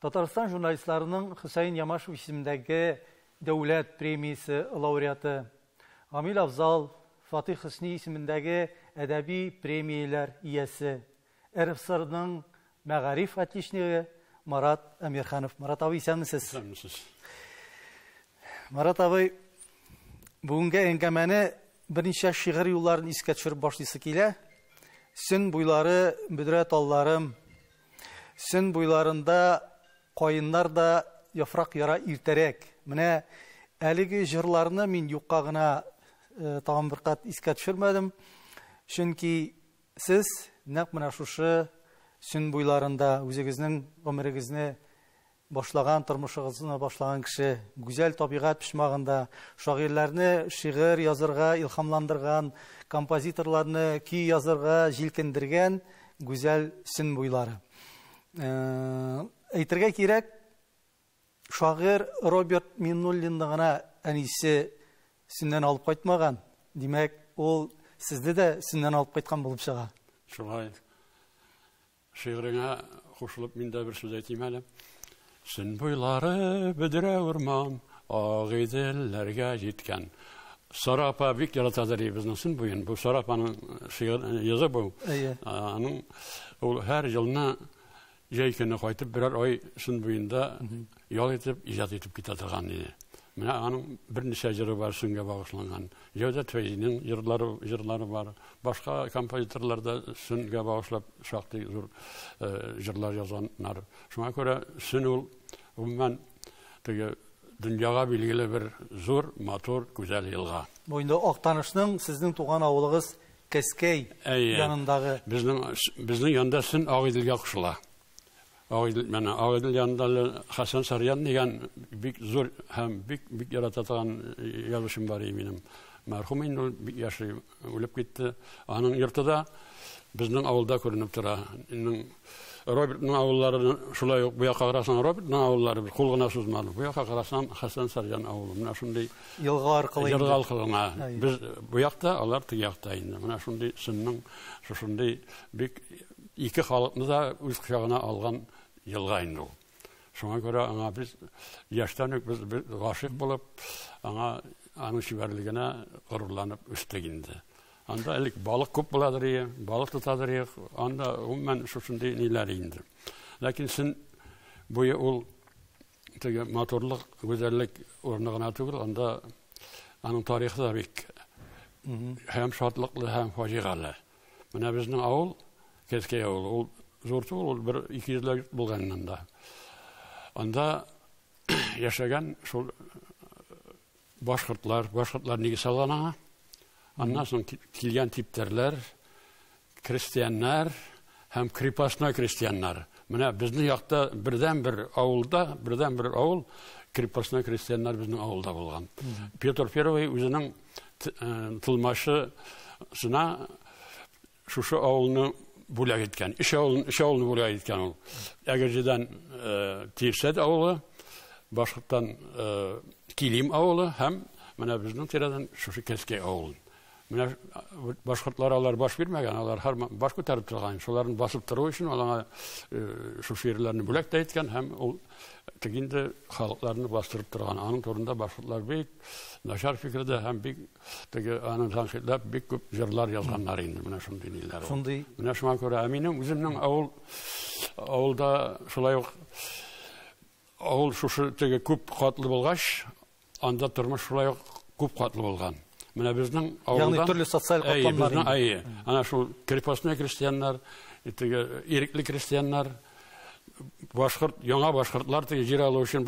Татарстан журналистларының Хөсәен Ямашев исемендәге дәүләт премиясе лауреаты, Гамил Афзал, Фатыйх Хөсни исемендәге әдәби премияләр иясе, РФСРның мәгариф отличнигы Марат Әмирханов. Марат абый, исәнмесез? Исәнмесез. Марат абый, бүгенге әңгәмәне берничә шигырь юлларын искә төшереп башлыйсы килә. Сөн буйлары, бөдрә талларым, Сөн буйларында каеннар да яфрак яра иртәрәк. Менә әлеге җырларны мин юкка гына тагын бер кат искә төшермәдем. Чөнки сез нәкъ менә шушы сөн буйларында үзегезнең гомерегезне Башлаган тормышыгызны башлаган кеше, гүзәл табигать почмагында, шагыйрьләрне шигырь язырга илһамландырган, композиторларны көй язырга җилкендергән гүзәл сөн буйлары. Э, әйтергә кирәк, шагыйрь Роберт Миннуллинны гына әнисе сөннән алып кайтмаган. Димәк, ул сезне дә сөннән алып кайткан булып чыга. Шулай. Шигыреңә кушылып мин дә бер сүз әйтим әле. Сын буйлары бөдрә урман, ак иделләргә җиткән. Сара апа бик ярата дәли безнең сын буен. Бу Сара апаның шигырь язы бу. Аның ул һәр елны җәй көне кайтып берәр ай сын буенда Ял итеп, иҗат итеп китә торган иде. Менә аның берничә җыры бар шунгә багышланган. Җәүдәт Фәйзинең җырлары, җырлары бар. Башка композиторлар да шунгә багышлап шактый зур э, җырлар язганнар. Шуңа күрә шун ул гомумән теге дөньяга билгеле бер зур, матур, гүзәл елга. Бу инде Актанышның сезнең туган авылыгыз Кәскәй янындагы. Безнең безнең янда шун Агыйделгә кушыла. Агыйдел, менә Агыйдел янында Хәсән Сарьян дигән бик зур һәм бик бик ярата торган язучым бар иде минем. Мәрхүм инде ул бик яши, үлеп китте. Аның йорты да безнең авылда күренеп тора. Инде Робертның авыллары шулай ук бу якка карасаң Робертның авыллары без кул гына сузмадык. Бу якка карасаң Хәсән Сарьян авылы. Менә шундый елга аркылы елга аркылы без бу якта, алар теге якта инде. Менә шундый сынның шушындый бик Ике халыкны да үз кочагына алган елга инде ул. Шуңа күрә аңа без яшьтән үк без гашыйк булып, аңа аның чибәрлегенә горурланып үстек инде. Анда элек балык күп буладыр ие, балык тотадыр ие, анда гомумән шушындый ниләр инде. Ләкин син буе ул теге матурлык, гүзәллек урыны гына түгел, анда аның тарихы да бик һәм шатлыклы, һәм фаҗигале. Менә безнең авыл, Кәскәй авылы, ул зур түгел, ул бер ике йөзләп йорт булган анда. Анда яшәгән шул башкортлар, башкортлар нигез салган аңа. Аннан соң килгән типтәрләр, крестьяннар һәм крепостной крестьяннар. Менә безнең якта бердән бер авылда, бердән бер авыл крепостной крестьяннар безнең авылда булган. Петр Первый үзенең тылмашы сына шушы авылны бүләк иткән өч авылны өч авылны бүләк иткән ул әгерҗедән тирсәт авылы башкорттан килим авылы һәм менә безнең тирәдән шушы кәскәй авылы менә башкортлар алар баш бирмәгән алар һәр баш күтәреп торган шуларны басып тору өчен алаңа шушы ерләрне бүләк тә иткән һәм ул тик инде халыкларны бастырып торган аның турында башкортлар бик начар фикердә һәм бик теге аны тәнкыйтьләп бик күп җырлар язганнар инде менә шундый ниләр. Шундый. Менә шуңа күрә ә минем үземнең авыл авылда шулай ук авыл шушы теге күп катлы булгач, анда тормыш шулай ук күп катлы булган. Менә безнең авылдан Ягъни төрле социаль катлам бар. Әйе, әйе. Ана шул крепостной крестьяннар, теге ирекле крестьяннар, башкорт яңа башкортлар теге җир алу өчен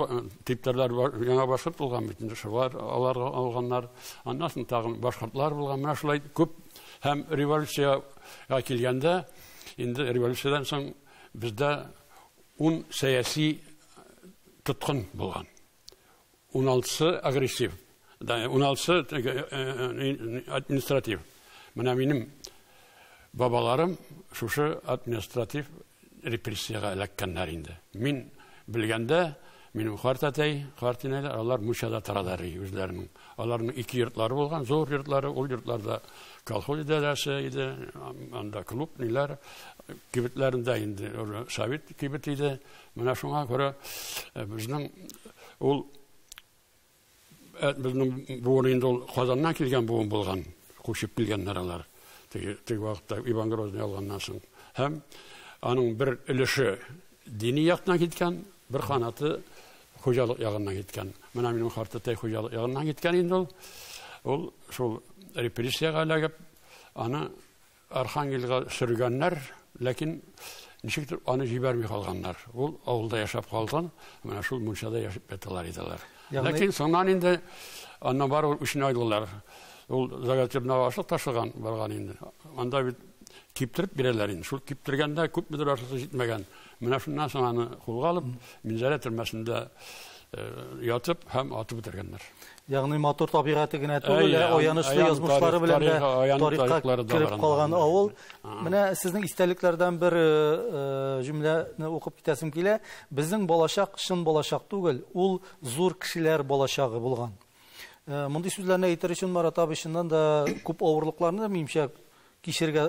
типтәрләр яңа башкорт булган бит инде шулар алар алганнар аннан соң тагын башкортлар булган менә шулай күп һәм революциягә килгәндә инде революциядән соң бездә ун сәяси тоткын булган Уналтысы агрессив, уналтысы административ. Менә минем бабаларым шушы административ репрессиягә эләккәннәр инде. Мин белгәндә, минем карт әтәй, карт инәләр, алар Мучада торалар үзләренең. Аларның ике йортлары булган, зур йортлары, ул йортларда колхоз идарәсе иде, анда клуб, ниләр, кибетләрендә инде совет кибет иде, Менә шуңа күрә безнең ул безнең буын инде ул Казаннан килгән буын булган, күчеп килгәннәр алар. Теге теге вакытта Иван Грозный алганнан соң. Һәм аның бер өлеше дини яктан киткән, бер канаты хуҗалык ягыннан киткән. Менә минем картәтәй хуҗалык ягыннан киткән инде ул. Ул шул репрессиягә эләгеп, аны Архангельга сөргәннәр, ләкин ничектер аны җибәрми калганнар. Ул авылда яшәп калган, менә шул мунчада яшәп яталар иделәр. Ягъни... Ләкин соңнан инде аннан бар ул үчен айдылар. Ул загатебна ашлык ташыган барган инде. Анда бит киптереп бирәләр инде. Шул киптергәндә күпмедер ашлык җитмәгән. Менә шуннан соң аны кулга алып, Минзәлә төрмәсендә э, ятып һәм атып үтергәннәр. Ягъни матур табигате генә түгел, ә аянычлы язмышлары белән дә тарихка кереп калган авыл. Менә сезнең истәлекләрдән бер э, э, җөмләне укып китәсем килә. Безнең балачак чын балачак түгел, ул зур кешеләр балачагы булган. Мондый сүзләрне әйтер өчен Марат абый чыннан да күп авырлыкларны, минемчә, кичергә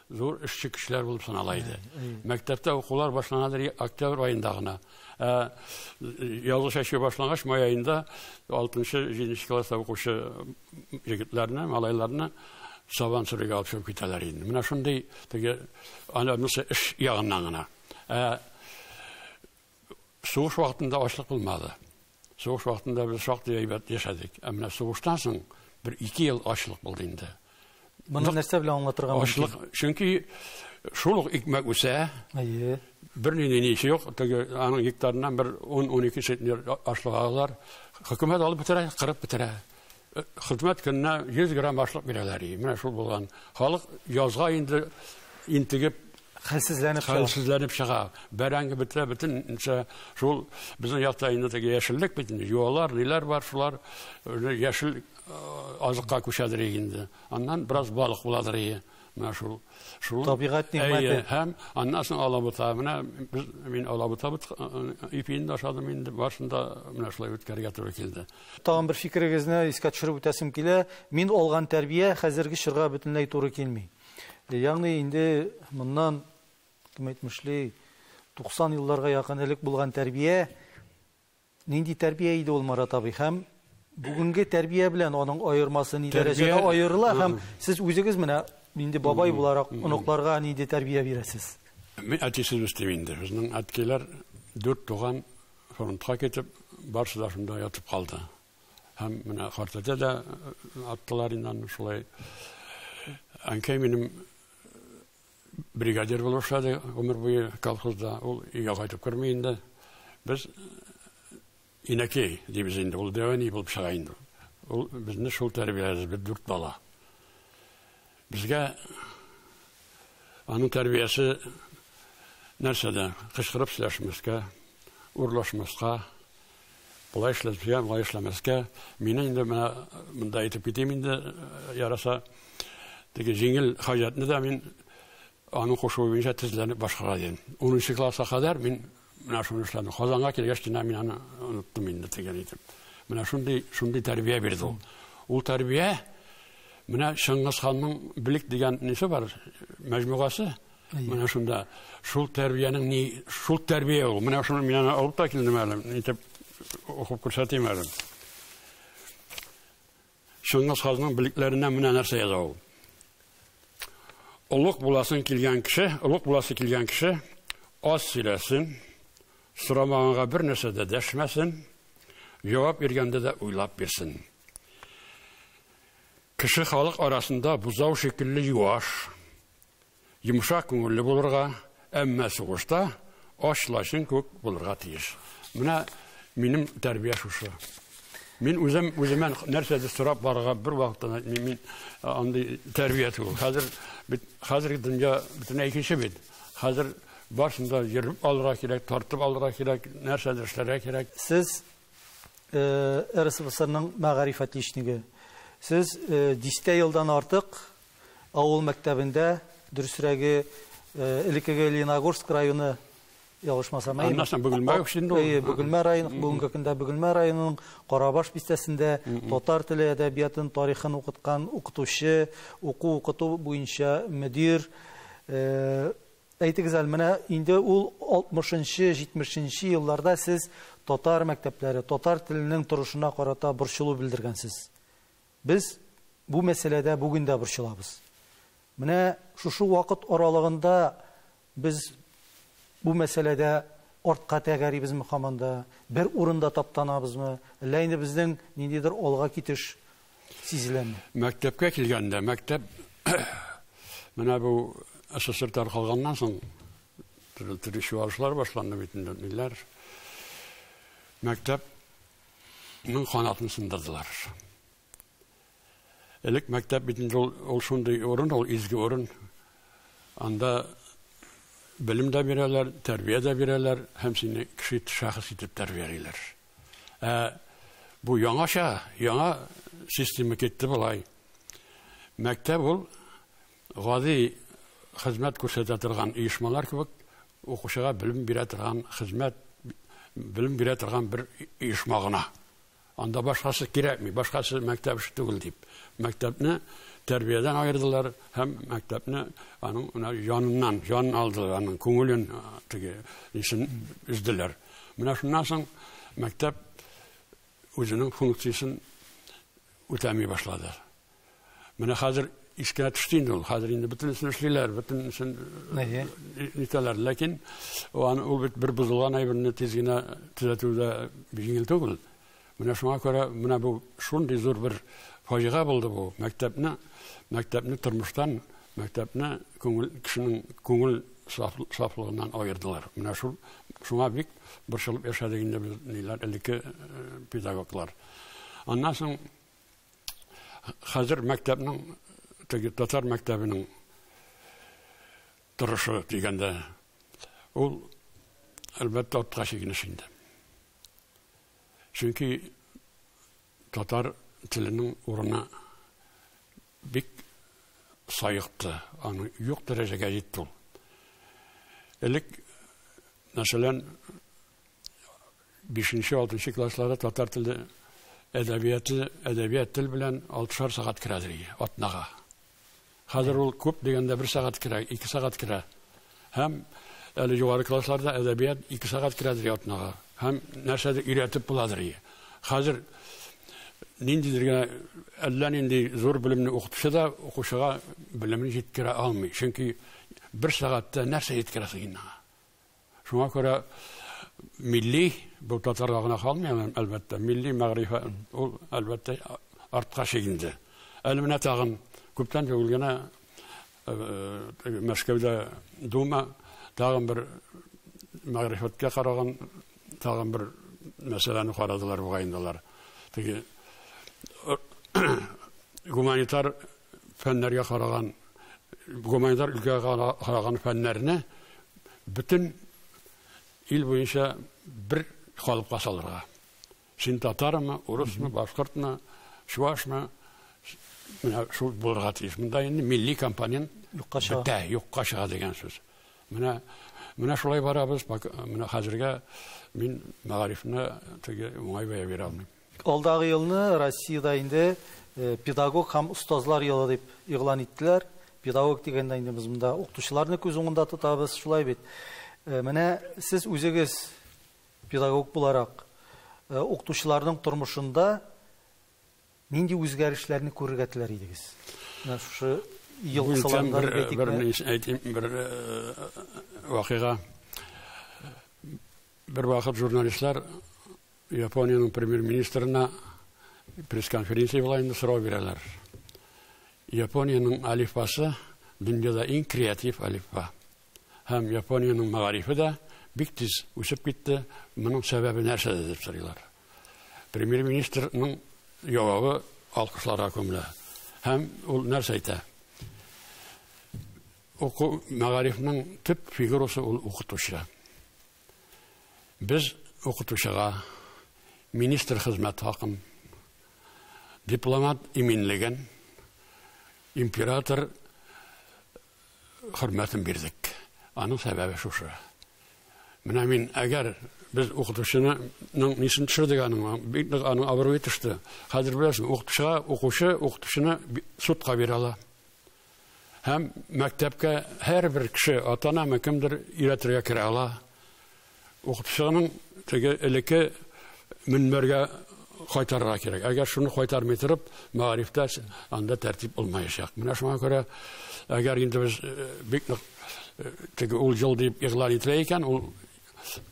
зур эшче кешеләр булып санала иде. Мәктәптә укулар башланадыр октябрь аенда гына. Ә язгы чәчү башлангач май аенда 6-7 класста укучы егетләрне, малайларны сабан сөрергә алып чыгып китәләр инде. Менә шундый теге анысы эш ягыннан гына. Ә сугыш вакытында ачлык булмады. Сугыш вакытында без шактый әйбәт яшәдек. Ә менә сугыштан соң бер ике ел ачлык булды инде. Моны нәрсә белән аңлатырга мөмкин? Ачлык, чөнки шул ук икмәк үсә. Әйе. Бернинди ни эше юк. Теге аның гектарыннан бер 10-12 центнер ашлык алалар. Хөкүмәт алып бетерә, кырып бетерә. хезмәт көненә 100 грамм ашлык бирәләр. Менә шул булган. Халык язга инде интегеп хәлсезләнеп чыга. Хәлсезләнеп чыга. Бәрәңге бетә, бөтенчә шул безнең якта инде теге яшеллек бит инде. Юалар, ниләр бар, шулар яшел азыкка күчәдер инде. Аннан бераз балык буладыр. Менә шул шул табигать нигъмәте. Һәм аннан соң алабута. Менә без мин алабута бит ипиен ашадым инде. Баршында менә шулай үткәргә туры килде. Тагын бер фикерегезне искә төшереп үтәсем килә. Мин алган тәрбия хәзерге чорга бөтенләй туры килми. Ягъни инде моннан кем әйтмешли 90 елларга якын элек булган тәрбия Нинди тәрбия иде ул, Марат абый, һәм бүгенге тәрбия белән аның аермасы ни дәрәҗәдә аерыла һәм сез үзегез менә инде бабай буларак оныкларга нинди тәрбия бирәсез? Мин әтисез үстем инде. Безнең әткәйләр дүрт туган фронтка китеп, барысы да шунда ятып калды. Һәм менә картәтә дә аттылар инде аны шулай. Әнкәй минем Бригадир булып эшләде гомер буе колхозда. Ул өйгә кайтып керми инде. Без инәкәй дибез инде. Ул дәвәни булып чыга инде. Ул безне шул тәрбияләде, без дүрт бала. Безгә аның тәрбиясе нәрсәдә? Кычкырып сөйләшмәскә, урлашмаска, Болай эшләтергә, болай эшләмәскә. Мине инде менә монда әйтеп китим инде, яраса. Теге җиңел хаҗәтне дә мин аның кушуы буенча тезләнеп башкара идем. 10 класска кадәр мин менә шуны эшләдем. Казанга килгәч кенә мин аны оныттым инде тегән итеп. Менә шундый шундый тәрбия бирде ул. Ул тәрбия менә Чыңгыз ханның Билек дигән несе бар, мәҗмугасы. Менә шунда шул тәрбиянең ни шул тәрбия ул. Менә шуны мин аны алып та килдем әле. Итеп укып күрсәтим әле. Чыңгыз ханның билекләренә менә нәрсә яза ул. Олуг буласын килгән кеше, олуг буласы килгән кеше аз сөйләсен, сорамаганга бер нәрсә дә дәшмәсен, җавап биргәндә дә уйлап бирсен. Кеше халык арасында бузау шикелле юаш, Йомшак күңелле булырга, әмма сугышта ач лачын күк булырга тиеш. Менә минем тәрбия шушы. Мин үзем үземә нәрсәдер сорап барырга бер вакытта мин, мин андый тәрбия түгел. Хәзер бит хәзерге дөнья бөтенләй икенче бит. Хәзер барсын да йөреп алырга кирәк, тартып алырга кирәк, нәрсәдер эшләргә кирәк. Сез э, РСФСРның мәгариф отличнигы. Сез э, дистә елдан артык Авыл мәктәбендә, дөресрәге, элеккеге Лениногорск районы, ялгышмасам, әйеме? Аннан соң Бөгелмә өчен дә ул. Әйе, Бөгелмә районы, бүгенге көндә Бөгелмә районының Карабаш бистәсендә татар теле, әдәбиятын, тарихын укыткан укытучы, уку-укыту буенча мөдир. Әйтегез әле, менә инде ул 60 нчы, 70 нче елларда сез татар мәктәпләре, татар теленең торышына карата борчылу белдергәнсез. Без бу мәсьәләдә бүген дә борчылабыз. Менә шушы вакыт аралыгында без бу мәсьәләдә артка тәгәрибезме һаман да, бер урында таптанабызмы, әллә инде безнең ниндидер алга китеш сизеләме? Мәктәпкә килгәндә, мәктәп менә бу СССР таркалганнан соң төрле чуалышлар башланды бит инде, ниләр. Мәктәп Мин канатын сындырдылар. Элек мәктәп бит инде ул шундый урын, ул изге урын. Анда белем дә бирәләр, тәрбия дә бирәләр һәм сине кеше шәхес итеп тәрбиялиләр. Ә бу яңача, яңа система китте болай. Мәктәп ул Гади хезмәт күрсәтә торган оешмалар кебек укучыга белем бирә торган хезмәт белем бирә торган бер оешма гына. Анда башкасы кирәкми, башкасы мәктәп эше түгел дип, мәктәпне тәрбиядән аердылар һәм мәктәпне аның менә яныннан, җанын алдылар, аның күңелен теге исен изделәр. Менә шуннан соң мәктәп үзенең функциясен үтәми башлады. Менә хәзер искә төште инде ул. Хәзер инде бөтенесен эшлиләр, бөтенесен нитәләр. Ләкин ул бит бер бозылган әйберне тиз генә төзәтү дә җиңел түгел. Менә шуңа күрә менә бу шундый зур бер фаҗига булды бу. Мәктәпне, мәктәпне тормыштан, мәктәпне күңел кешенең күңел сафлыгыннан аердылар. Менә шул шуңа бик борчылып яшәдек инде без ниләр элекке педагоглар. Аннан соң Хәзер мәктәпнең теге татар мәктәбенең торышы дигәндә ул әлбәттә атка чигенеш инде. Чөнки татар теленең урыны бик саекты, аны юк дәрәҗәгә җитте ул. Элек, мәсәлән, бишенче, алтынчы класслары татар теле әдәбияты, әдәбият тел белән алтышар сәгать керә дигән атнага. Хәзер ул күп дигәндә бер сәгать керә, ике сәгать керә. Һәм әле югары классларда әдәбият ике сәгать керә дигән атнага. Һәм нәрсәдер өйрәтеп буладыр. Хәзер ниндидер генә әллә нинди зур белемне укытучы да укучыга белемен җиткерә алмый. Чөнки бер сәгатьтә нәрсә җиткерәсең инде? Шуңа күрә милли, бу татарга гына калмый, әлбәттә, милли мәгърифә ул, әлбәттә, артка чигенде. Әле менә тагын күптән түгел генә Мәскәүдә дума тагын бер мәгърифәткә караган тагын бер мәсьәләне карадылар бугай инде алар. Теге гуманитар фәннәргә караган, гуманитар өлкәгә караган фәннәрне бөтен ил буенча бер калыпка салырга. Син татармы, урысмы, башкортмы, чувашмы, менә шул булырга тиеш. Монда инде милли компонент юкка чыга. Бетә, юкка чыга дигән сүз. Менә менә шулай барабыз. Менә хәзергә мин мәгарифне теге уңай бәя бирә алмыйм. Алдагы елны Россиядә инде Педагог һәм остазлар елы дип игълан иттеләр. Педагог дигәндә инде без монда укытучыларны күз уңында тотабыз, шулай бит. Менә сез үзегез педагог буларак укытучыларның тормышында нинди үзгәрешләрне күрергә теләр идегез? Менә шушы ел кысаларында әйтик. Бер әйтим, бер вакыйга. Бер вакыт журналистлар Япониянең премьер-министрына пресс-конференция була инде, сорау бирәләр. Япониянең алифбасы дөньяда иң креатив алифба. Һәм Япониянең мәгарифе дә бик тиз үсеп китте. Моның сәбәбе нәрсәдә дип сорыйлар. Премьер-министрның җавабы алкышларга күмелә. Һәм ул нәрсә әйтә? Уку мәгарифның төп фигурасы ул укытучы. Без укытучыга министр хезмәт хакын, дипломат иминлеген, император хөрмәтен бирдек. Аның сәбәбе шушы. Менә мин, әгәр без укытучының нисен төшердек аның, бик нык аның абруе төште. Хәзер беләсең, укытучыга укучы укытучыны судка бирә ала. Һәм мәктәпкә һәрбер кеше, ата-анамы кемдер өйрәтергә керә ала. Укытучының теге элекке мөнбәргә кайтарырга кирәк. Әгәр шуны кайтармый торып, мәгарифтә анда тәртип булмаячак. Менә шуңа күрә, әгәр инде без э, бик нык э, теге ул ел дип игълан ителә икән, ул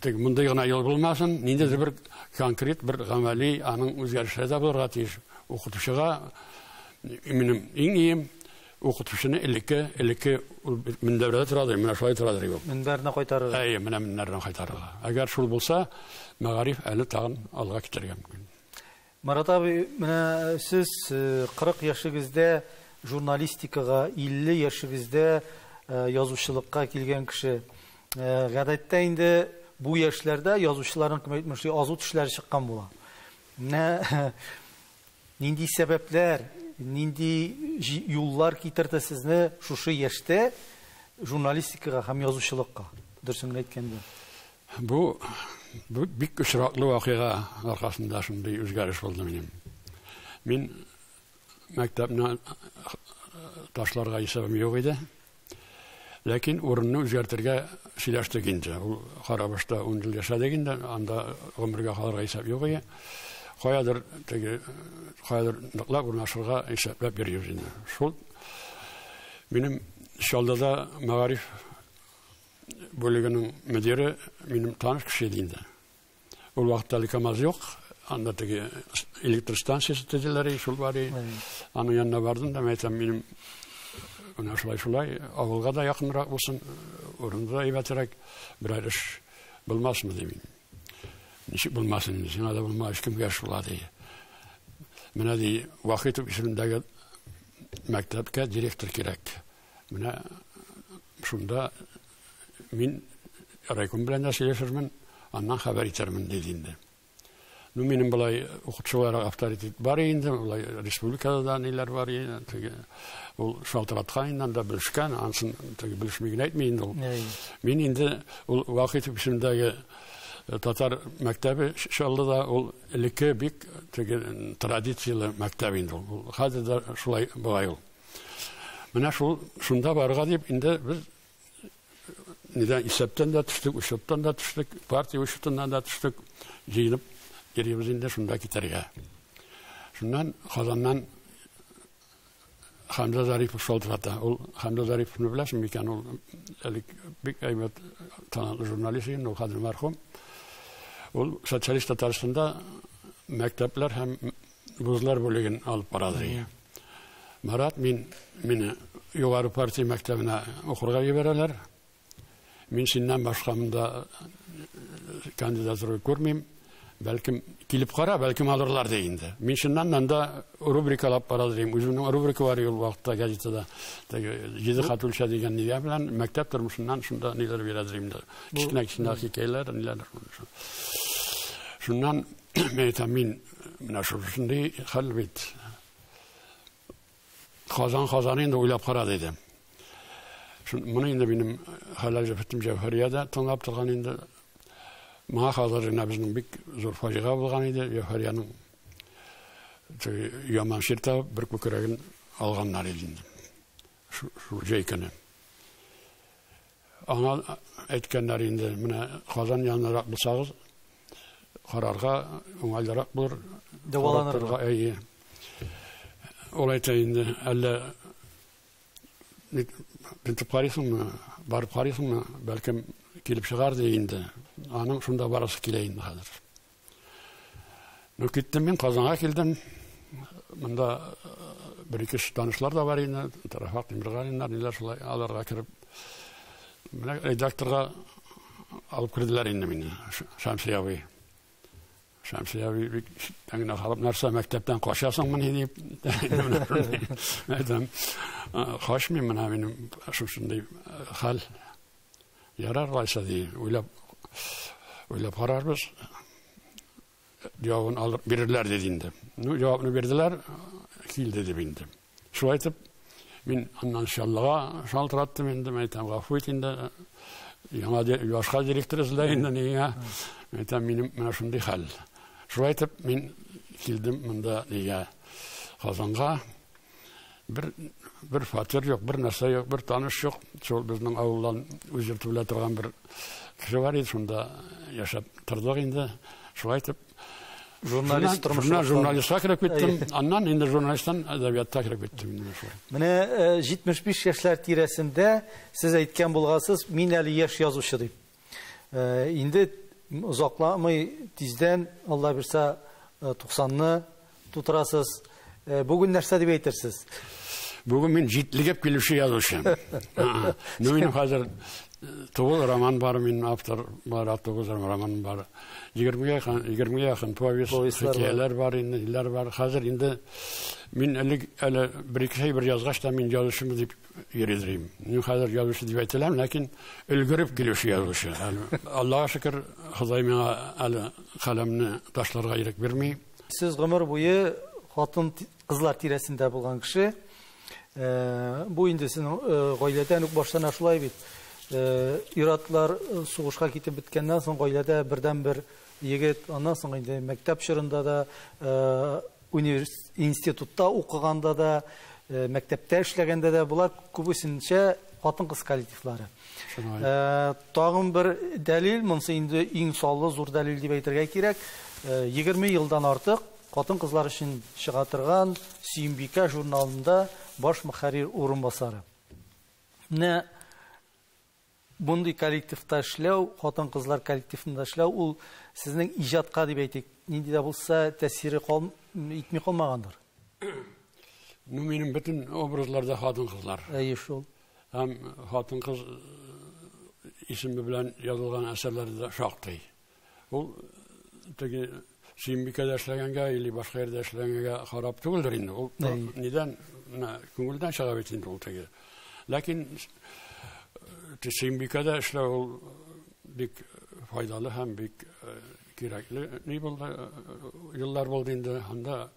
Тик мондый гына юл булмасын, ниндидер бер конкрет, бер гамәли аның үзгәрешләре дә булырга тиеш. Укытучыга минем иң ием укытучыны элекке элекке мендәрдә тора ди, менә шулай тора ди ул. Мендәрне кайтарырга. Әйе, менә мендәрне кайтарырга. Әгәр шул булса, мәгариф әле тагын алга китәргә мөмкин. Марат абый, менә сез 40 яшегездә журналистикага, 50 яшегездә язучылыкка килгән кеше. Гадәттә инде бу яшьләрдә язучыларның кем әйтмешли азу тешләре чыккан була. Менә нинди сәбәпләр, нинди юллар китерде сезне шушы яшьтә журналистикага һәм язучылыкка, дөресен генә әйткәндә? Бу бик очраклы вакыйга аркасында шундый үзгәреш булды минем. Мин мәктәпне ташларга исәбем юк иде. Ләкин урынны үзгәртергә сөйләштек инде. Ул Карабашта 10 ел яшәдек инде, анда гомергә калырга исәп юк иде. Каядыр теге каядыр ныклап урнашырга исәпләп йөрибез инде. Шул минем Чаллыда мәгариф бүлегенең мөдире минем таныш кеше иде инде. Ул вакытта әле КАМАЗ юк, анда теге электр станциясе төзеләр иде, шул бар иде. Аның янына бардым да, мен әйтәм, минем менә шулай-шулай, авылга да якынрак булсын, урында да әйбәтрәк, берәр эш булмасмы, ди мин. Ничек булмасын, сиңа да булмагач, кемгә эш була, ди. Менә ди, Вахитов исемендәге мәктәпкә директор кирәк. Менә шунда мин райком белән дә сөйләшермен, аннан хәбәр итермен диде инде. Ну, минем былай укытучылар авторитет бар инде, былай республикада да ниләр бар инде, теге ул шалтыраткан инде, анда белешкән, ансын теге белешми генә әйтми инде ул. Мин инде ул вакыт исемдәге э, татар мәктәбе шулда да ул элекке бик теге традицияле мәктәп инде ул. Хәзер дә шулай була ул. Менә шул шунда барга дип инде без нидә исәптән дә төштек, учеттан да төштек, партия учетыннан да төштек, җыенып йөрибез инде шунда китәргә. Шуннан Казаннан Хәмзә Зарипов шалтырата. Ул Хәмзә Зариповны беләсең микән? Ул әле бик әйбәт талантлы журналист иде, ул хәзер мәрхүм. Ул социалист Татарстанда мәктәпләр һәм Вузлар бүлеген алып барады иде. Марат мин мине югары партия мәктәбенә укырга җибәрәләр. Мин синнән башка монда э, кандидатура күрмим. Бәлкем килеп кара, бәлкем алырлар ди инде. Мин чыннан монда рубрикалап барады дим. Үземнең рубрика бар ул вакытта газетада. Теге җиде хат үлчә дигән нигә белән мәктәп тормышыннан шунда ниләр бирәдер инде. Кичнәк-кичнәк хикәяләр, ниләр. Шуннан Мин әйтәм, мин менә шушындый хәл бит. Казан Казан инде уйлап кара диде. Моны инде минем хәләл җәфетем Җәүһәрия дә тыңлап торган инде. Моңа хәзер генә безнең бик зур фаҗига булган иде. Җәүһәриянең яман ширтә бер күкрәген алганнар иде. Шул җәй көне. Аңа әйткәннәр инде, менә Казан янынарак булсагыз, карарга уңайлырак булыр. Дәваланырга. Әйе. Ул әйтә инде, әллә тентеп карыйсыңмы, барып карыйсыңмы, бәлкем килеп чыгар ди инде. Аның шунда барасы килә инде хәзер. Ну, киттем мин, Казанга килдем. Монда э, бер ике танышлар да бар инде, Тарафак Тимиргалиннар, ниләр шулай аларга кереп. Менә редакторга алып керделәр инде мине, Шәмсия абый. Шәмсия абый бик тәңгенә халып, нәрсә мәктәптән качасың мени дип. Әйтәм, качмыйм менә минем шушындый э, хәл. Ярар алайса, ди, уйлап, уйлап карарбыз. Җавабын алып бирерләр диде инде. Ну, җавабны бирделәр, килде дип инде. Шулай итеп, мин аннан шаллыга шалтыраттым инде, мен әйтәм, гафу ит инде, яңа башка директор эзлә инде нигә. Мен әйтәм, минем менә шундый хәл. Шулай итеп, мин килдем монда нигә Казанга. Бер, бер фатир юк, бер нәрсә юк, бер таныш юк. Шул безнең авылдан үзер түлә торган бер кеше бар иде, шунда яшәп тордык инде. Шулай итеп, журналист тормышына журналистка кереп киттем аннан инде журналисттан әдәбиятка кереп киттем менә э, җитмеш биш яшьләр тирәсендә сез әйткән булгансыз мин әле яшь язучы дип Инде озакламый тиздән, Алла бирса, 90-ны тутырасыз. Бүген нәрсә дип әйтерсез? Бүген мин җитлегеп килүче язучы. Ну, минем хәзер тугыз роман бар, мин автор бар, тугыз роман бар. Егермегә егермегә якын повесть, хикәяләр бар инде, иләр бар. Хәзер инде мин әле әле бер-ике бер язгач та мин язучымы дип йөридерим. Мин хәзер язучы дип әйтеләм, ләкин өлгереп килүче язучы. Аллага шөкер, Ходай миңа әле каләмне ташларга ирек бирми. Сез гомер буе хатын кызлар тирәсендә булган кеше. Э, бу инде сезнең э, гаиләдән үк башлана шулай бит. Э, ир-атлар сугышка китеп беткәннән соң гаиләдә бердән-бер егет, аннан соң инде мәктәп чорында да Универс институтта укыганда да, мәктәптә эшләгәндә дә болар күбесенчә хатын-кыз коллективлары. Тагын бер дәлил, монсы инде иң саллы зур дәлил дип әйтергә кирәк. 20 елдан артык хатын-кызлар өчен чыга торган Сөембикә журналында баш мөхәррир урынбасары. Менә Мондый коллективта эшләү, хатын-кызлар коллективында эшләү, ул сезнең иҗатка, дип әйтик, нинди дә булса тәэсире кал итми калмагандыр? Ну, минем бөтен образларда хатын-кызлар. Әйе шул. Һәм хатын-кыз исеме белән язылган әсәрләр дә шактый. Ул теге Сөембикәдә эшләгәнгә или башка йөрдә эшләгәнгә харап түгелдер инде. Ул нидән менә күңелдән чыга бит инде ул теге. Ләкин э, Сөембикәдә эшләү ул бик файдалы һәм бик э, кирәкле ни булды э, еллар булды инде. Анда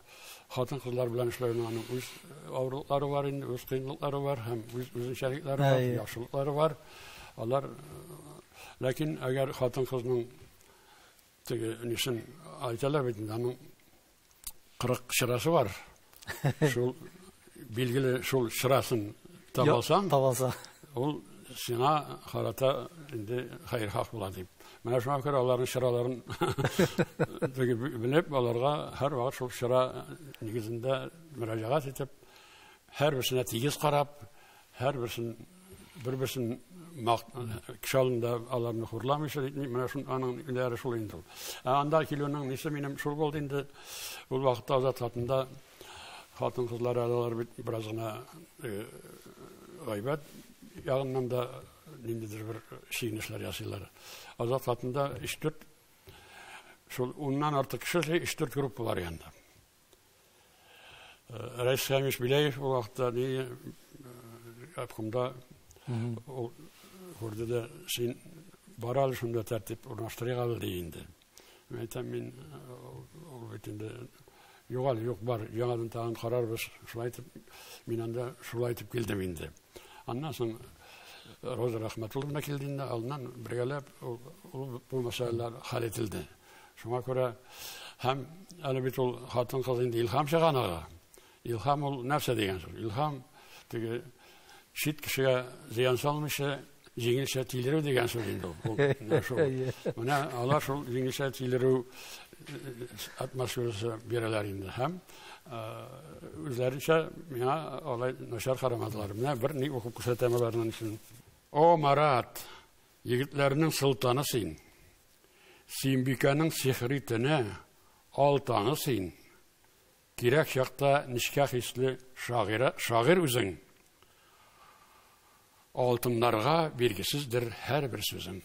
хатын-кызлар белән эшләүнең аның үз авырлыклары бар инде, үз кыенлыклары бар һәм үз үзенчәлекләре бар, яхшылыклары бар. Алар ләкин әгәр хатын-кызның теге нишен әйтәләр бит инде, аның 40 чырасы бар. Шул билгеле шул чырасын табасаң, табаса. Ул сиңа харата инде хәйр хак була дип. Менә шуңа күрә аларның чыраларын белеп, аларга һәр вакыт шул чыра нигезендә мөрәҗәгать итеп, һәр берсенә тигез карап, һәр берсен бер берсен кеше алдында аларны хурламыйча итми, менә шул аның өләре шул инде ул. Ә анда килүнең нисә минем шул булды инде. Ул вакытта Азат хатында хатын-кызлар алар бит бераз гына гайбәт ягыннан да ниндидер бер чигенешләр ясыйлар. Азат хатында 3-4 шул уннан артык кеше 3-4 группа бар янда. Рәис Хәмиш Биләев ул вакытта ни обкомда ул күрде дә син бара әле шунда тәртип урнаштырыйк әле ди инде. Мин әйтәм, мин ул бит инде югал, юк бар, яңадан тагын карарбыз, шулай итеп, мин анда шулай итеп килдем инде. Аннан соң Роза Рахматулловна килде инде, аннан бергәләп ул бу мәсьәләләр хәл ителде. Шуңа күрә һәм әле бит ул хатын-кыз инде Илһам чыганага, Илһам ул нәрсә дигән сүз? Илһам теге чит кешегә зыян салмыйча, җиңелчә тилерү дигән сүз инде ул. Менә алар шул җиңелчә тилерү атмосферасы бирәләр инде һәм үзләренчә миңа алай начар карамадылар. Менә бер ни укып күрсәтәм аларның өчен. О, Марат, егетләрнең солтаны син. Симбикәнең сихри тене, алтаны син. Кирәк чакта нечкә хисле шагыйрә, шагыйрь үзең. Алтыннарга биргесездер һәрбер сүзең.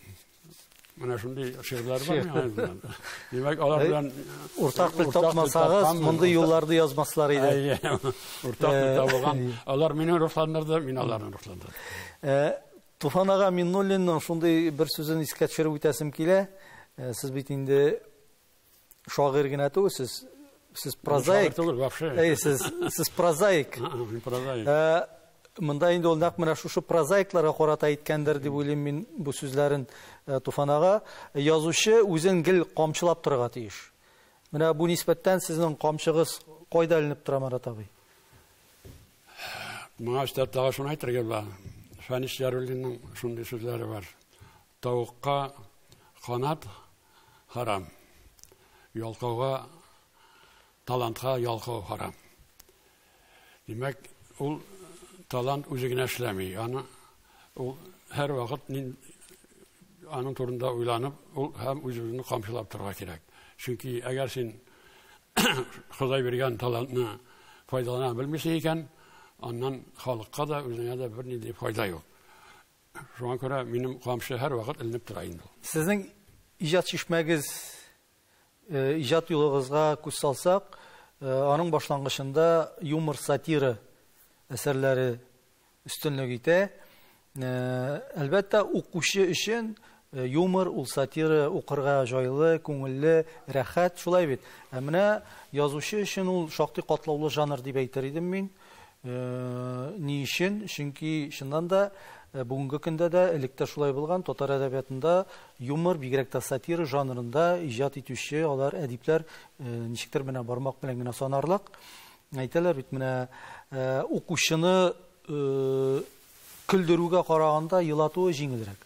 Менә шундый шигырьләр бар миңа. Димәк, алар белән уртак тел тапмасагыз, мондый юлларды язмаслар иде. Уртак тел табылган. Алар мине рухландырды, мин аларны рухландырдым. Туфан ага Миннуллинның шундый бер сүзен искә төшереп үтәсем килә. Сез бит инде Шагыйрь генә түгел сез, сез прозаик. Шагыйрь түгел, вообще. Әй, сез, сез прозаик. Прозаик. Э, Монда инде ул нәкъ менә шушы прозаикларга карата әйткәндер дип уйлыйм мин бу сүзләрен э, Туфанага. Язучы үзен гел камчылап торырга тиеш. Менә бу нисбәттән сезнең камчыгыз кайда эленеп тора, Марат абый? Моңа өстәп тагы шуны әйтергә була. Фәнис Яруллинның шундый сүзләре бар. Тавыкка канат харам, ялкауга талантка ялкау харам. Димәк, ул талант үзе генә эшләми. Аны ул һәр вакыт аның турында уйланып, ул һәм үз-үзен камчылап торырга кирәк. Чөнки әгәр син Ходай биргән талантны файдалана белмисең икән, аннан халыкка да, үзеңә дә бернинди файда юк. Шуңа күрә минем камчы һәрвакыт эленеп тора инде ул. Сезнең иҗат шишмәгез, э, иҗат юлыгызга күз салсак, э, аның башлангычында юмор, сатира әсәрләре өстенлек итә. Э, әлбәттә, укучы өчен Юмор, ул сатира, укырга җайлы, күңелле, рәхәт, шулай бит? Ә менә язучы өчен ул шактый катлаулы жанр дип әйтер идем мин. Ни өчен? Чөнки, чыннан да, бүгенге көндә дә, элек тә шулай булган, татар әдәбиятында юмор, бигрәк тә сатира жанрында иҗат итүче алар әдипләр ничектер менә бармак белән генә санарлык. Әйтәләр бит менә укучыны көлдерүгә караганда елатуы җиңелрәк.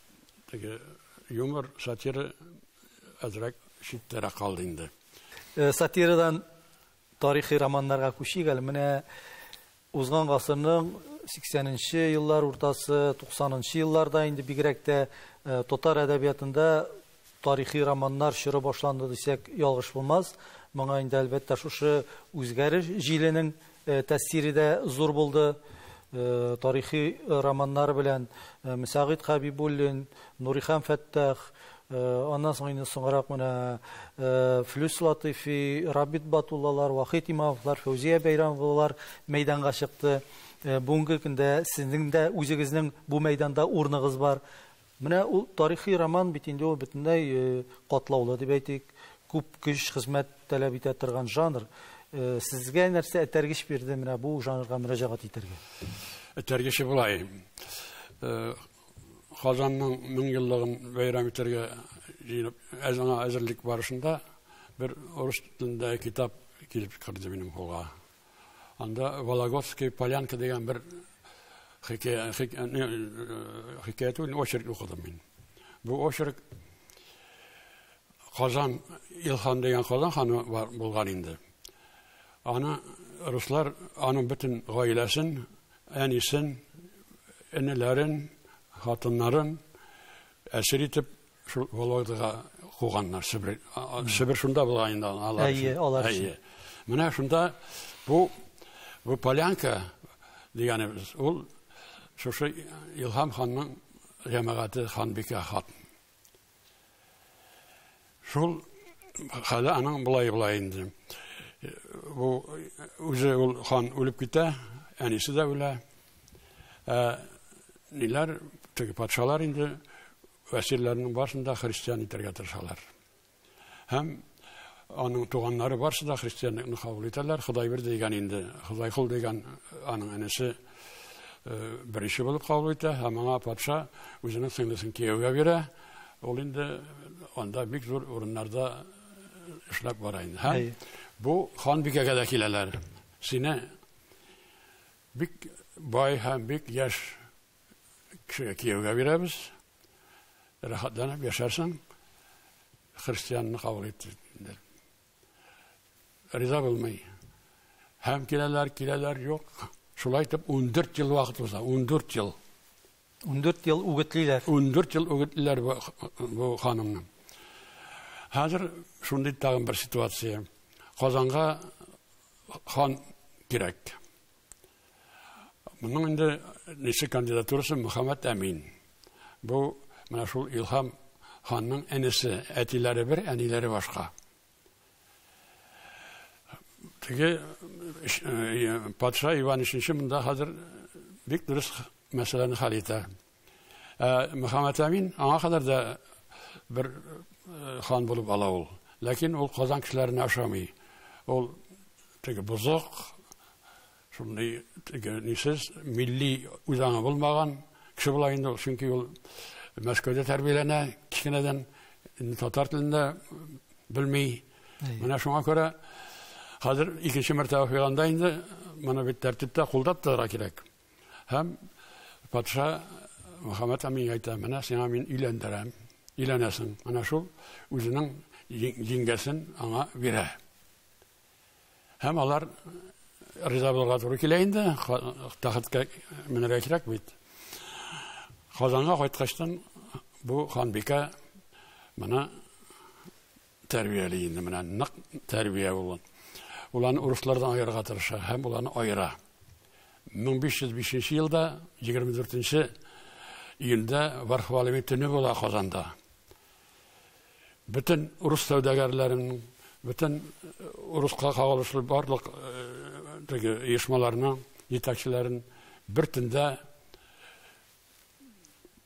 теге юмор, сатира әзрәк читтәрәк калды инде. Э, сатирадан тарихи романнарга күчик әле. Менә узган гасырның 80-нче еллар уртасы, 90-нчы елларда инде бигрәк тә э, татар әдәбиятында тарихи романнар чоры башланды дисәк, ялгыш булмас. Моңа инде, әлбәттә, шушы үзгәреш җиленең тәэсире дә зур булды. Тарихи романнар белән Мсәгыйть Хәбибуллин, Нурихан Фәттах, аннан соң инде соңрак менә Флүс Латыйфи, Рабит Батуллалар, Вахит Имамовлар, Фәүзия Бәйрәмовалар мәйданга чыкты. Бүгенге көндә сезнең дә үзегезнең бу мәйданда урыныгыз бар. Менә ул тарихи роман бит инде, ул бөтенләй катлаулы дип әйтик, күп көч, хезмәт таләп итә торган жанр. Сезгә нәрсә этәргеч бирде менә бу жанрга мөрәҗәгать итәргә? Этәргече болай. Казанның мең еллыгын бәйрәм итәргә җыенып, әзерлек барышында бер урыс телендәге китап килеп керде минем кулга. Анда Вологодская полянка дигән бер хикәя, хикәя түгел, очерк укыдым мин. Бу очерк Казан Илхан дигән Казан ханы бар булган инде. Аны руслар аның бөтен гаиләсен, әнисен, энеләрен, хатыннарын әсир итеп Шул Вологдага куганнар Себер. Себер шунда булган инде алар. Әйе, алар. Әйе. Менә шунда бу бу полянка дигәнебез, ул шушы Илһам ханның җәмәгате ханбикә хат. Шул хәле аның болай болай инде. Бу үзе ул хан үлеп китә, әнисе дә үлә. Ә ниләр теге патшалар инде Әсирләрнең барысын да христиан итәргә тырышалар. Һәм аның туганнары барысы да христианлыкны кабул итәләр. Ходай бер дигән инде, Ходай кул дигән аның энесе беренче булып кабул итә һәм аңа патша үзенең сеңлесен кияүгә бирә. Ул инде анда бик зур урыннарда эшләп бара инде. Һәм бу ханбикәгә дә киләләр. Сине бик бай һәм бик яшь кешегә кияүгә бирәбез, рәхәтләнеп яшәрсең, христианны кабул ит диделәр. Риза булмый. Һәм киләләр, киләләр, юк. Шулай итеп 14 ел вакыт уза, 14 ел. 14 ел үгетлиләр. 14 ел үгетлиләр бу, бу ханымны. Хәзер шундый тагын бер ситуация. Казанга хан кирәк. Моның инде нече кандидатурасы Мөхәммәд Әмин. Бу менә шул Илһам ханның энесе, әтиләре бер, әниләре башка. Теге э, патша Иван 3 монда хәзер бик дөрес мәсьәләне хәл итә. Ә Мөхәммәтәмин аңа кадәр дә бер э, хан булып ала ул. Ләкин ул Казан кешеләренә ошамый. Ул теге бозык, шундый теге нисез, милли үзаңы булмаган кеше була инде ул, чөнки ул Мәскәүдә тәрбияләнә, кечкенәдән татар телендә белми. Менә шуңа күрә хәзер икенче мәртәбә фиганда инде моны бит тәртиптә кулдап торырга кирәк. Һәм патша Мөхәммәд Аминга әйтә, менә сиңа мин өйләндерәм, өйләнәсең. Менә шул үзенең җиңгәсен аңа бирә. Һәм алар риза булырга туры килә инде, тахетка менергә кирәк бит. Казанга кайткачтан бу ханбикә моны тәрбияли инде менә нык тәрбия ул ул аны урыслардан аерырга тырыша һәм ул аны аера 1505 елда 24 июльдә вархвалими төне була казанда бөтен урыс сәүдәгәрләрен бөтен э, урыска кагылышлы барлык э, теге оешмаларның җитәкчеләрен бер төндә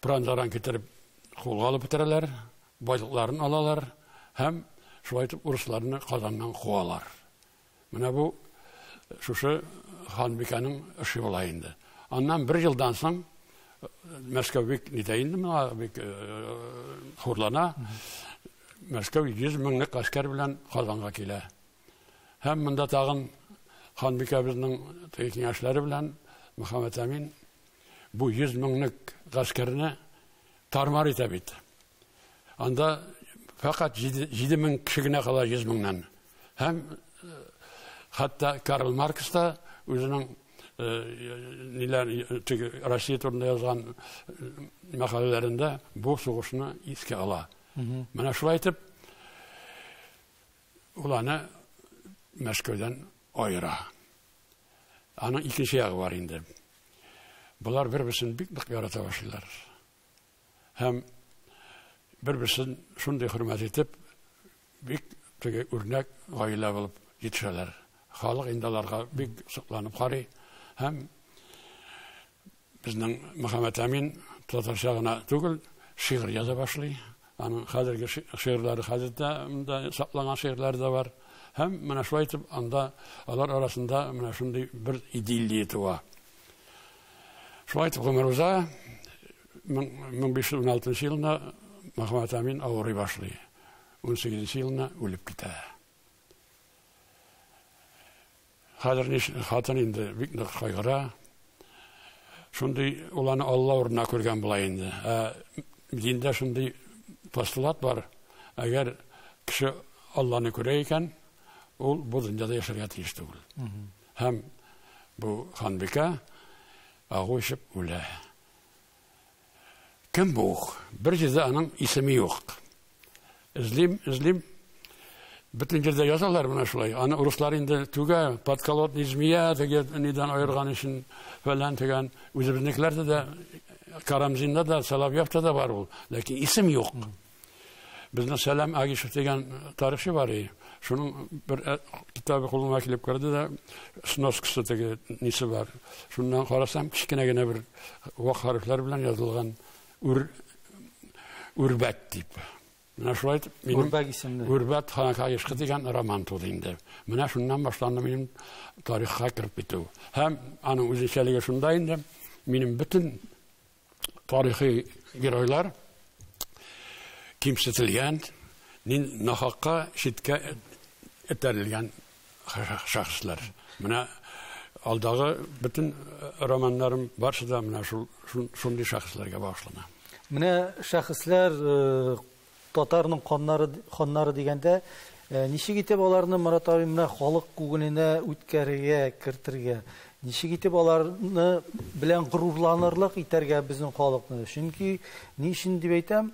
Пранжаран китереп кулга алып бетерәләр, байлыкларын алалар һәм шулай итеп урысларны Казаннан куалар. Менә бу шушы ханбикәнең эше була инде. Аннан бер елдан соң Мәскәү бик нитә инде моңа бик хурлана. Мәскәү 100 меңлек гаскәр белән Казанга килә. Һәм монда тагын ханбикәбезнең киңәшләре белән Мөхәммәт Әмин Бу йөз меңлек гаскәрне тар-мар итә бит. Анда фәкать җиде мең кеше генә кала йөз меңнән. Һәм э, хәтта Карл Маркс та үзенең э, ниләр теге Россия турында язган э, мәкаләләрендә бу сугышны искә ала. Менә шулай итеп ул аны Мәскәүдән аера. Аның икенче ягы бар инде. Болар бер-берсен бик нык ярата башлыйлар. Һәм бер-берсен шундый хөрмәт итеп, бик теге үрнәк гаилә булып җитешәләр. Халык инде аларга бик сокланып карый һәм Безнең Мөхәммәтәмин татарча гына түгел, шигырь яза башлый. Аның хәзерге шигырьләре хәзер дә монда сакланган шигырьләре дә бар. Һәм менә шулай итеп анда алар арасында менә шундый бер идиллия туа. Шулай итеп гомер уза. 1516 елында Мөхәммәт Амин авырый башлый. 18 елына үлеп китә. Хәзер ни өчен хатын инде бик нык кайгыра. Шундый ул аны Алла урынына күргән була инде. Ә диндә шундый постулат бар, әгәр кеше Алланы күрә икән, ул бу дөньяда яшәргә тиеш түгел. Һәм бу ханбикә агу эчеп үлә. Кем бу? Бер җирдә аның исеме юк. Эзлим, эзлим. Бөтен җирдә язалар менә шулай. Аны урыслар инде түгә, подколодный змея дигән нидән аерган өчен фәлән дигән. Үзебезнекеләрдә дә Карамзинда да, Соловьевта да бар ул. Ләкин исем юк. Безнең Сәлам Агишев дигән тарихчы бар и. Шуның бер э, китабы кулыма килеп керде дә, сноскасы теге нисе бар. Шуннан карасам, кечкенә генә бер вак хәрефләр белән язылган үр үрбәт дип. Менә шулай итеп минем Үрбәк исемле. Үрбәт ханка ешкы дигән роман туды инде. Менә шуннан башланды минем тарихка кереп китү. Һәм аның үзенчәлеге шунда инде, минем бөтен тарихи геройлар кимсетелгән, нин нахакка читкә этәрелгән шәхесләр. Менә алдагы бөтен э, романнарым барысы да менә шул шундый шәхесләргә багышлана. Менә шәхесләр э, Татарның каннары, ханнары дигәндә, ничек итеп аларны, Марат абый, менә халык күңеленә үткәрергә, кертергә? Ничек итеп аларны белән горурланырлык итәргә безнең халыкны? Чөнки ни өчен дип әйтәм,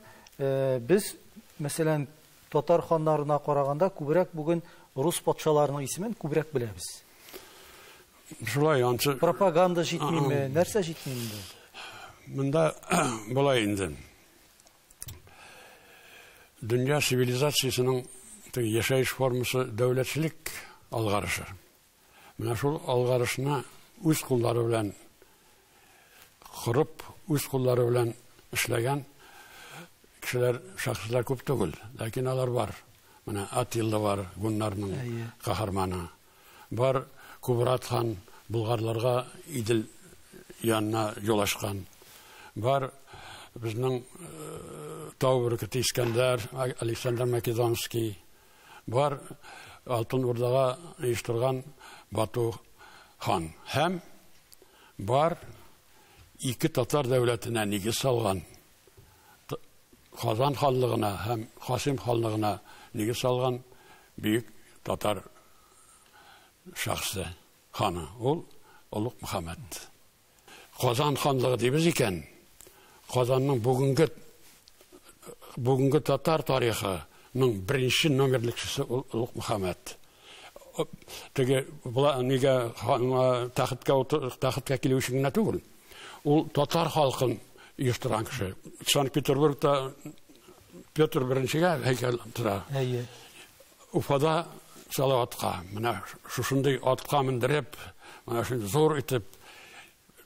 без, мәсәлән, татар ханнарына караганда күбрәк бүген рус патшаларының исемен күбрәк беләбез. Шулай ансы. Пропаганда җитмиме? Нәрсә җитми инде? Монда болай инде. дөнья цивилизациясенең теге яшәеш формасы дәүләтчелек алгарышы. Менә шул алгарышны үз куллары белән корып, үз куллары белән эшләгән кешеләр, шәхесләр күп түгел, ләкин алар бар. Менә Атилла бар, гуннарның каһарманы. Бар Кубрат хан болгарларга Идел янына юл ачкан. Бар безнең тау бөркете Искәндәр, Александр Македонский. Бар Алтын Урдага оештырган Бату хан. Һәм бар ике татар дәүләтенә нигез салган Казан ханлыгына һәм Касыйм ханлыгына нигез салган бөек татар шәхесе, ханы. Ул Олуг Мөхәммәд. Казан ханлыгы дибез икән, Казанның бүгенге бүгенге татар тарихының беренче номерлекчесе ул Олуг Мөхәммәд. Теге була нигә ханга тәхеткә тәхеткә килү өчен генә түгел, Ул татар халкын оештырган кеше. Санкт-Петербургта Петр беренчегә һәйкәл тора. Әйе. Уфада Салаватка, менә шушындый атка мендереп, менә шундый зур итеп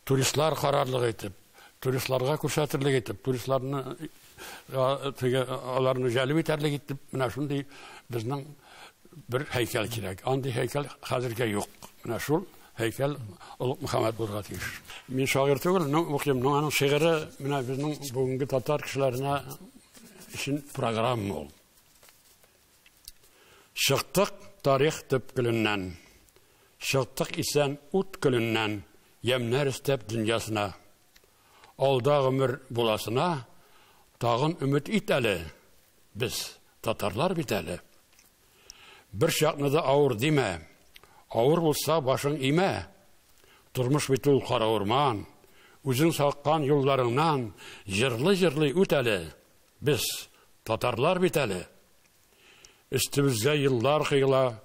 туристлар карарлык итеп, туристларга күрсәтерлек итеп, туристларны теге аларны җәлеп итәрлек итеп менә шундый безнең бер һәйкәл кирәк андый һәйкәл хәзергә юк менә шул һәйкәл олуг мөхәммәд булырга тиеш мин шагыйрь түгел но укыйм но аның шигыре менә безнең бүгенге татар кешеләренә өчен программа ул чыктык тарих төпкеленнән чыктык исән ут көліннән ямнәр істәп дөньясына Алда гомер буласына тагын өмет ит әле. Без татарлар бит әле. Бер чакны да авыр димә. Авыр булса башың имә. Тормыш бит ул кара урман. Үзең саккан юлларыңнан җырлый-җырлый үт әле. Без татарлар бит әле. Өстебезгә еллар кыйла,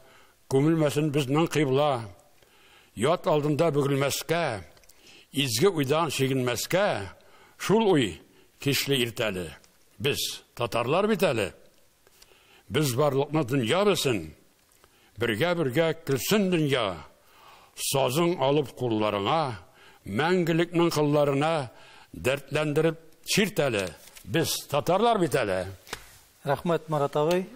Күмелмәсен безнең кыйбла. Ят алдында бөгелмәскә, Изге уйдан чигенмәскә, Шул уй кичле иртәле. Без, татарлар бит әле. Без барлыкны дөнья белсен. Бергә-бергә көлсен дөнья, сазың алып кулларыңа, мәңгелекнең кылларына дәртләндереп чирт әле. Без татарлар бит әле. Рәхмәт, Марат абый.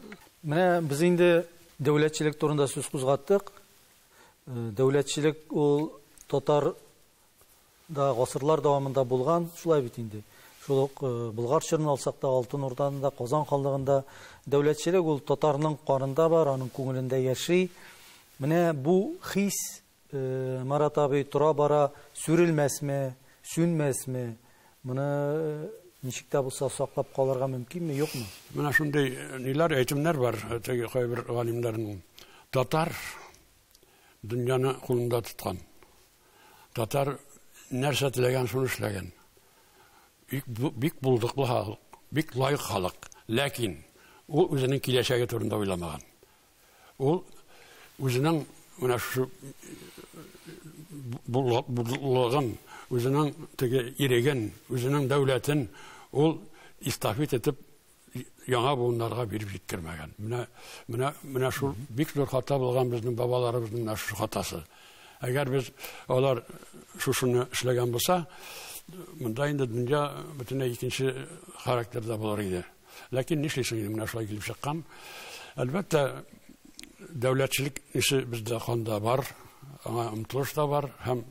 Менә без инде дәүләтчелек турында сүз кузгаттык. Э, дәүләтчелек ул татар Да гасырлар дәвамында булган, шулай бит инде. Шул ук Болгар чорын алсак та, Алтын Урданы да, Казан ханлыгын да. Дәүләтчелек ул татарның канында бар, аның күңелендә яши. Менә бу хис, Марат абый, тора-бара сүрелмәсме, сүнмәсме? Моны ничек тә булса саклап калырга мөмкинме, юкмы? Менә шундый ниләр, әйтемнәр бар теге кайбер галимнәрнең. Татар дөньяны кулында тоткан. Татар нәрсә теләгән, шуны эшләгән. Бик, бик булдыклы халык, бик лайык халык. Ләкин ул үзенең киләчәге турында уйламаган. Ул үзенең менә шушы булдыклыгын, үзенең теге иреген, үзенең дәүләтен ул эстафет итеп яңа буыннарга биреп җиткермәгән. Менә менә менә шул бик зур хата булган безнең бабаларыбызның да шушы хатасы. Әгәр без алар шушыны эшләгән булса, монда инде дөнья бөтенләй икенче характерда булыр иде. Ләкин нишлисең инде менә шулай килеп чыккан. Әлбәттә, дәүләтчелек ише бездә канда бар, аңа омтылыш та бар һәм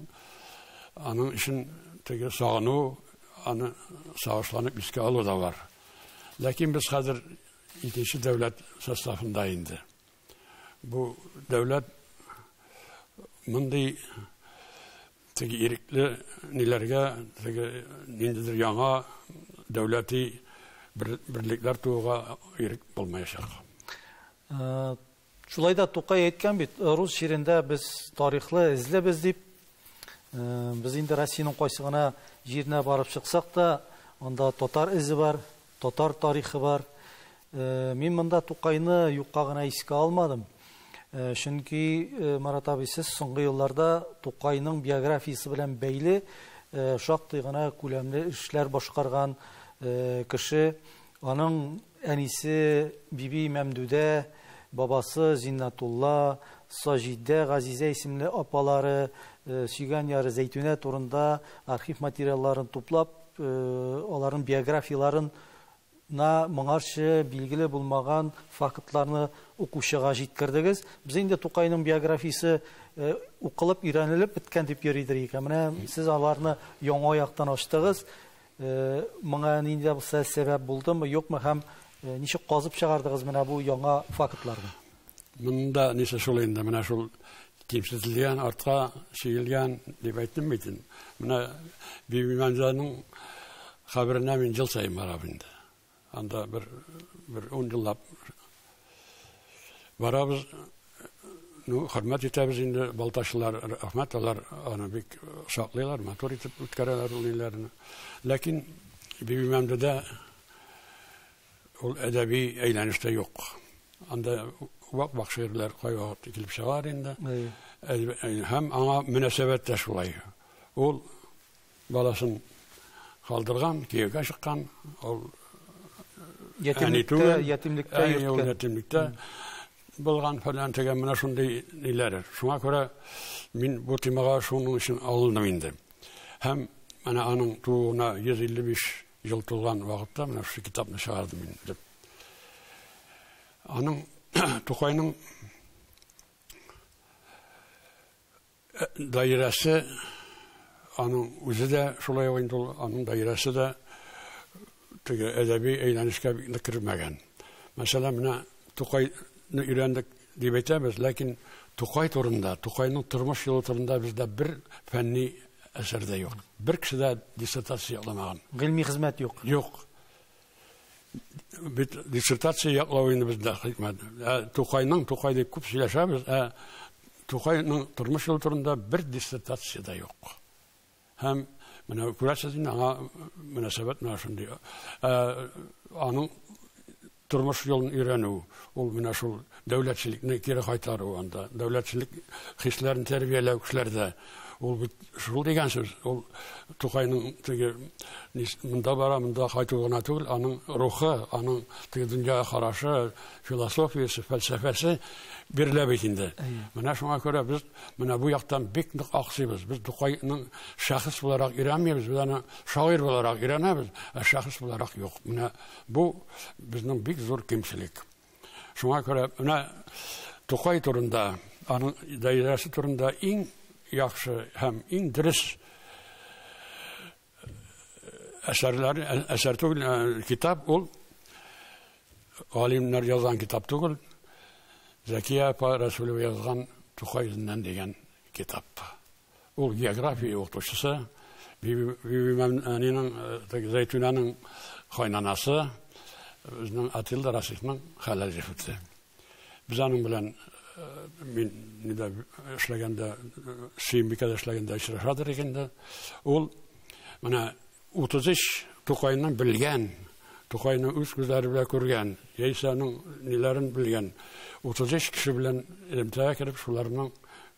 аның өчен теге сагыну, Аны сагышланып искә алу да бар. Ләкин без хәзер икенче дәүләт составында инде. Бу дәүләт мондый теге ирекле ниләргә, теге ниндидер яңа дәүләти берлекләр тууга ирек булмаячак. Шулай да Тукай әйткән бит, рус җирендә без тарихлы эзлебез дип. Без инде Россиянең кайсы гына җиренә барып чыксак та, анда татар эзе бар, татар тарихы бар. Мин монда Тукайны юкка гына искә алмадым. Чөнки Марат абый, сез соңгы елларда Тукайның биографиясе белән бәйле шактый гына күләмле эшләр башкарган кеше. Аның әнисе Биби Мәмдүдә, бабасы Зиннатулла, Саҗидә, Газизә исемле апалары, сөйгән яры Зәйтүнә турында архив материалларын туплап, аларның биографияләрен на моңарчы билгеле булмаган фактларны укучыга җиткердегез. Без инде Тукайның биографиясе укылып, өйрәнелеп беткән дип йөридер икән. Менә сез аларны яңа яктан ачтыгыз. Моңа нинди дә булса сәбәп булдымы, юкмы һәм ничек казып чыгардыгыз менә бу яңа фактларны? Монда нисе шул инде, менә шул кимсетелгән, артка чигелгән дип әйтмим бит инде. Менә Бибимәмзәнең каберенә мин ел саен барам инде. Анда бер бер ун еллап барабыз. Ну, хөрмәт итәбез инде балтачлар, рәхмәт алар аны бик саклыйлар, матур итеп үткәрәләр ул ниләрне. Ләкин Бибимәмдедә ул әдәби әйләнештә юк. Анда вак вак шигырьләр кайвакыт килеп чыгар инде. Һәм аңа мөнәсәбәт тә шулай. Ул Баласын калдырган, кияүгә чыккан, ул әни түгел. Ятимлектә, ятимлектә. Ятимлектә булган фәлән тегә менә шундый ниләр. Шуңа күрә мин бу темага шуның өчен алындым инде. Һәм менә аның тууына 155 ел тулган вакытта менә шушы китапны чыгардым мин дип. Аның Тукайның Даирәсе аның үзе дә шулай ук инде ул аның даирәсе дә теге әдәби әйләнешкә бик кермәгән. Мәсәлән, менә Тукайны өйрәндек дип әйтәбез, ләкин Тукай турында, Тукайның тормыш юлы турында бездә бер фәнни әсәр дә юк. Бер кеше дә диссертация язмаган. Гыйльми хезмәт юк. Юк. бит диссертация яклау инде бездә хикмәт. Ә Тукайның Тукай дип күп сөйләшәбез, ә Тукайның тормыш юлы турында бер диссертация дә юк. Һәм менә күрәсез инде аңа мөнәсәбәт менә шундый. Ә аның тормыш юлын өйрәнү, ул менә шул Дәүләтчелекне кире кайтару анда. Дәүләтчелек хисләрен тәрбияләү кешеләрдә. Ул бит шул дигән сүз. Ул Тукайның теге монда бара, монда кайту гына түгел, аның рухы, аның теге дөньяга карашы, философиясе, фәлсәфәсе бирелә бит инде. Менә шуңа күрә без менә бу яктан бик нык аксыйбыз. Без Тукайның шәхес буларак өйрәнмибез, без аны шагыйрь буларак өйрәнәбез, ә шәхес буларак юк. Менә бу безнең бик зур кимчелек. Шуңа күрә менә Тукай турында, аның даирәсе турында иң яхшы һәм иң дөрес әсәрләр, әсәр түгел, китап ул галимнәр язган китап түгел, Зәкия апа Рәсүлева язган Тукай үзеннән дигән китап. Ул география укытучысы, Бибимәмнинең, э, Зәйтүнәнең кайнанасы, безнең Атилда Расихның хәләл җефете. Без аның белән э, мин нидә эшләгәндә, Сөембикәдә эшләгәндә очрашадыр икән дә, ул менә 33 Тукайны белгән, Тукайны үз күзләре белән күргән, яисә аның ниләрен белгән 33 кеше белән элемтәгә кереп, шуларның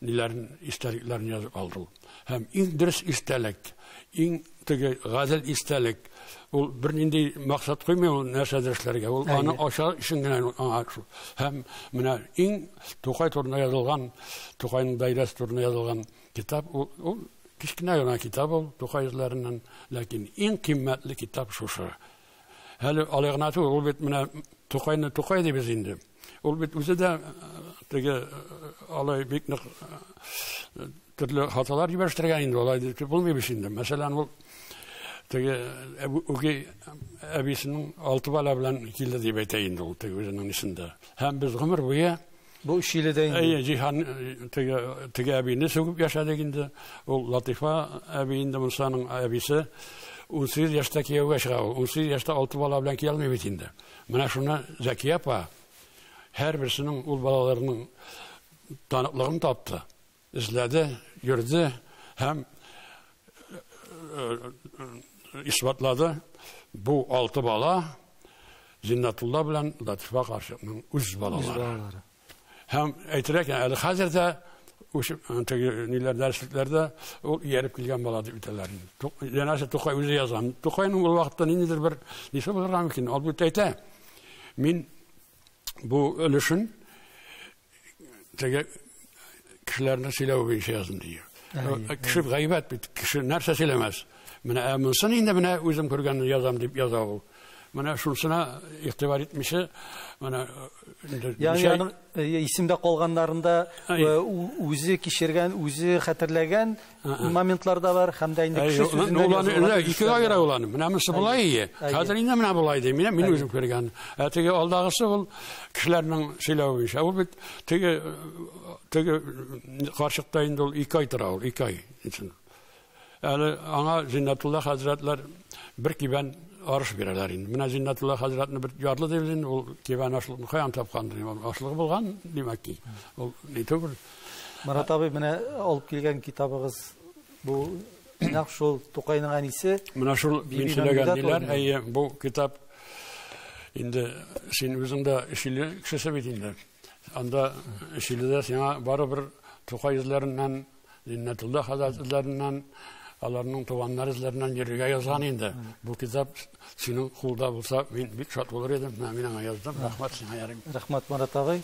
ниләрен, истәлекләрен язып алды ул. Һәм иң дөрес истәлек, иң теге гадел истәлек, ул бернинди максат куймый ул нәрсәдер эшләргә, ул аны ача өчен генә аңа шул. Һәм менә иң Тукай турында язылган, Тукайның даирәсе турында язылган Китап ул, ул кечкенә генә китап ул Тукай эзләреннән, ләкин иң кыйммәтле китап шушы. Әле алай гына түгел, ул бит менә Тукайны Тукай дибез инде. Ул бит үзе дә теге алай бик нык төрле хаталар җибәрештергән инде алай дип булмый бит инде. Мәсәлән, ул теге үги әбисенең алты бала белән килде дип әйтә инде ул теге үзенең исендә. Һәм без гомер буе Бу Чили дә инде. Әйе, Җиһан теге теге әбине сүгеп яшәдек инде. Ул Латифа әби инде Мусаның әбисе. 18 яшьтә кияүгә чыга ул. 18 яшьтә алты бала белән кия алмый бит инде. Менә шуны Зәкия апа һәрберсенең ул балаларының таныклыгын тапты. Эзләде, йөрде һәм исбатлады. Бу алты бала Зиннатулла белән Латифа карчыкның үз балалары. Һәм әйтергә кирәк, әле хәзер дә ниләр дәреслектәрдә ул ияреп килгән бала дип әйтәләр инде. Янәсе Тукай үзе язган. Тукайның ул вакытта ниндидер бер нисе булырга мөмкин. Ул бит әйтә. Мин бу өлешен теге кешеләрне сөйләү буенча яздым ди. Кеше гайбәт бит, кеше нәрсә сөйләмәс. Менә ә монсын инде менә үзем күргәнне язам дип яза ул. Менә шунсына игътибар итмичә, менә Ягъни аның исемдә калганнарында үзе кичергән, үзе хәтерләгән моментлар да бар һәм дә инде кеше сүзеннән язылган. Ике аера ул аны. Менә монысы болай ие. Хәзер инде менә болай ди. Менә мин үзем күргән. Ә теге алдагысы ул кешеләрнең сөйләве буенча. Ул бит теге теге карчыкта инде ул ике ай тора ул, ике ай. Әле аңа Зиннатулла хәзрәтләр бер кибән арыш бирәләр инде. Менә Зиннатулла хәзрәтне бер ярлы дип инде ул кибән ашлыгын каян тапкандыр. Ашлыгы булган, димәк ки. Ул ни түгел. Марат абый, менә алып килгән китабыгыз бу нәкъ шул Тукайның әнисе. Менә шул мин сөйләгән диләр, әйе, бу китап инде син үзең дә Чили кешесе бит инде. Анда Чилидә сиңа барыбер Тукай эзләреннән, Иннәтулла хәзрәт эзләреннән, аларның туганнар эзләреннән йөрергә язган инде. Бу китап синең кулда булса, мин бик шат булыр идем. Менә мин аңа яздым. Рәхмәт сиңа, Ярим. Рәхмәт, Марат абый.